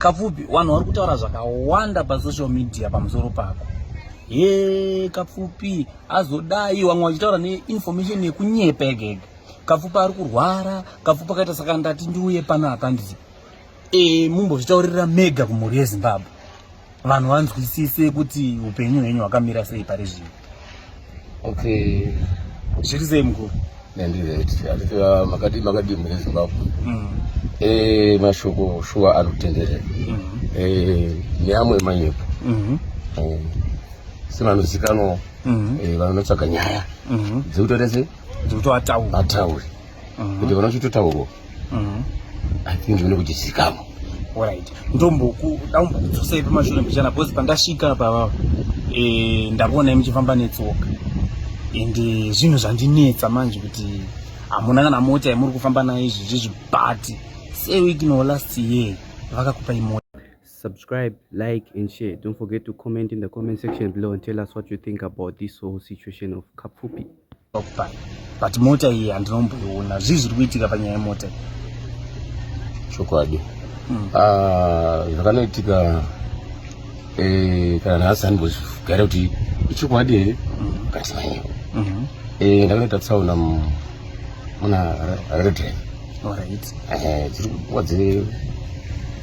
Kapfupi, vanhu vari kutaura zvakawanda pasocial media pamusoro pako. He, Kapfupi azodai vamwe vachitaura neinformation yekunyepa egege. Kapfupi ari kurwara, Kapfupi akaita saka ndati ndiuye pano hapa nditi e, mumbozvitaurira mega kumhuri yeZimbabwe vanhu vanzwisise kuti upenyu hwenyu hwakamira sei pari zvino. Okay. Zviri sei mukuru? Nandizvetiaaa makadii makadii mune Zimbabwe. Mm. Eh mashoko shuwa anotenderera. Mm. Eh neamwe manyepo. Mm. Eh sina nozikanwa. Mm. Eh vanotsvaga nyaya. Mm. Dzekutorese dzekutoataura. Ataure. Mm. Kuti vanochitotaurwa. mm. i think zvine kuti zikamo orit ndombokudaumbokudzosai pamashure mbichana bcause pandasvika pavavo e, eh, ndavonai muchifamba netsoka and eh, zvinhu zvandinetsa manje kuti hamuna kana mota yamuri kufamba nayo izvi zvizvi but sewiki no last year vakakupai mota subscribe like and share don't forget to comment in the comment section below and tell us what you think about this whole situation of kapfupi but mota iyi handinomboiona zvii zviri kuitika panyaya yemota chokwadi hmm. ah, zvakanoitika eh, kana nhasi handimbozvigare kuti ichokwadi here hmm. kati manyewo hmm. eh, ndakanoita tsaona muna redren eh, dziri kuwa dzine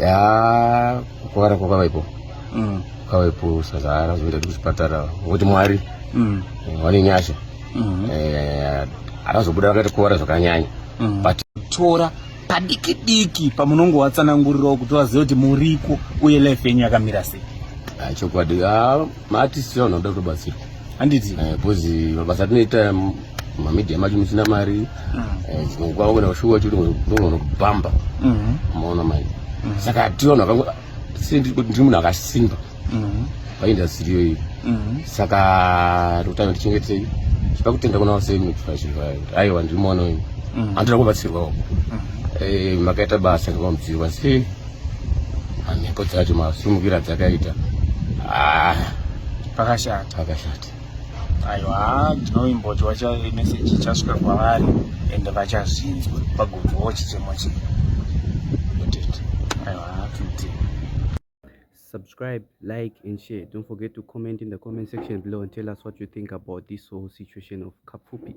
ya kukuvara kwakavaipo mm. kwavaipo sazara zoenda ndi kuchipatara ngokuti mwari mm. eh, vane nyasha mm-hmm. eh, akazobuda vakati kuvara zvakanyanya mm-hmm. but tora padiki diki pamunongo watsanangurirawo kuti vazive kuti muriko uye life yenyu yakamira sei ah, chokwadi ah, Maartists vanoda kutobatsirwa handiti eh, because mabasa atinoita mamedia macho musina mari mm. eh, dzimwe nguva wangona kushuwa chiri ndongono kubhamba mm-hmm. maona mai mm-hmm. saka tiona ndiri munhu akasimba mm-hmm. paindastry iyoyi saka tokutanga tichengetei chipa kutenda kuna vaseaiwa ndiri mwana wenyu anotoda kubatsirwawo eh, makaita basa ngamamudziwa sei mhepo dzacho masimukira dzakaita ah, pakashata pakashata aiwa ndinoimbotwa chameseji ichasvika kwavari ende vachazvinzwa pagovawo chichemo chii aiwa tuti subscribe like and share don't forget to comment in the comment section below and tell us what you think about this whole situation of kapfupi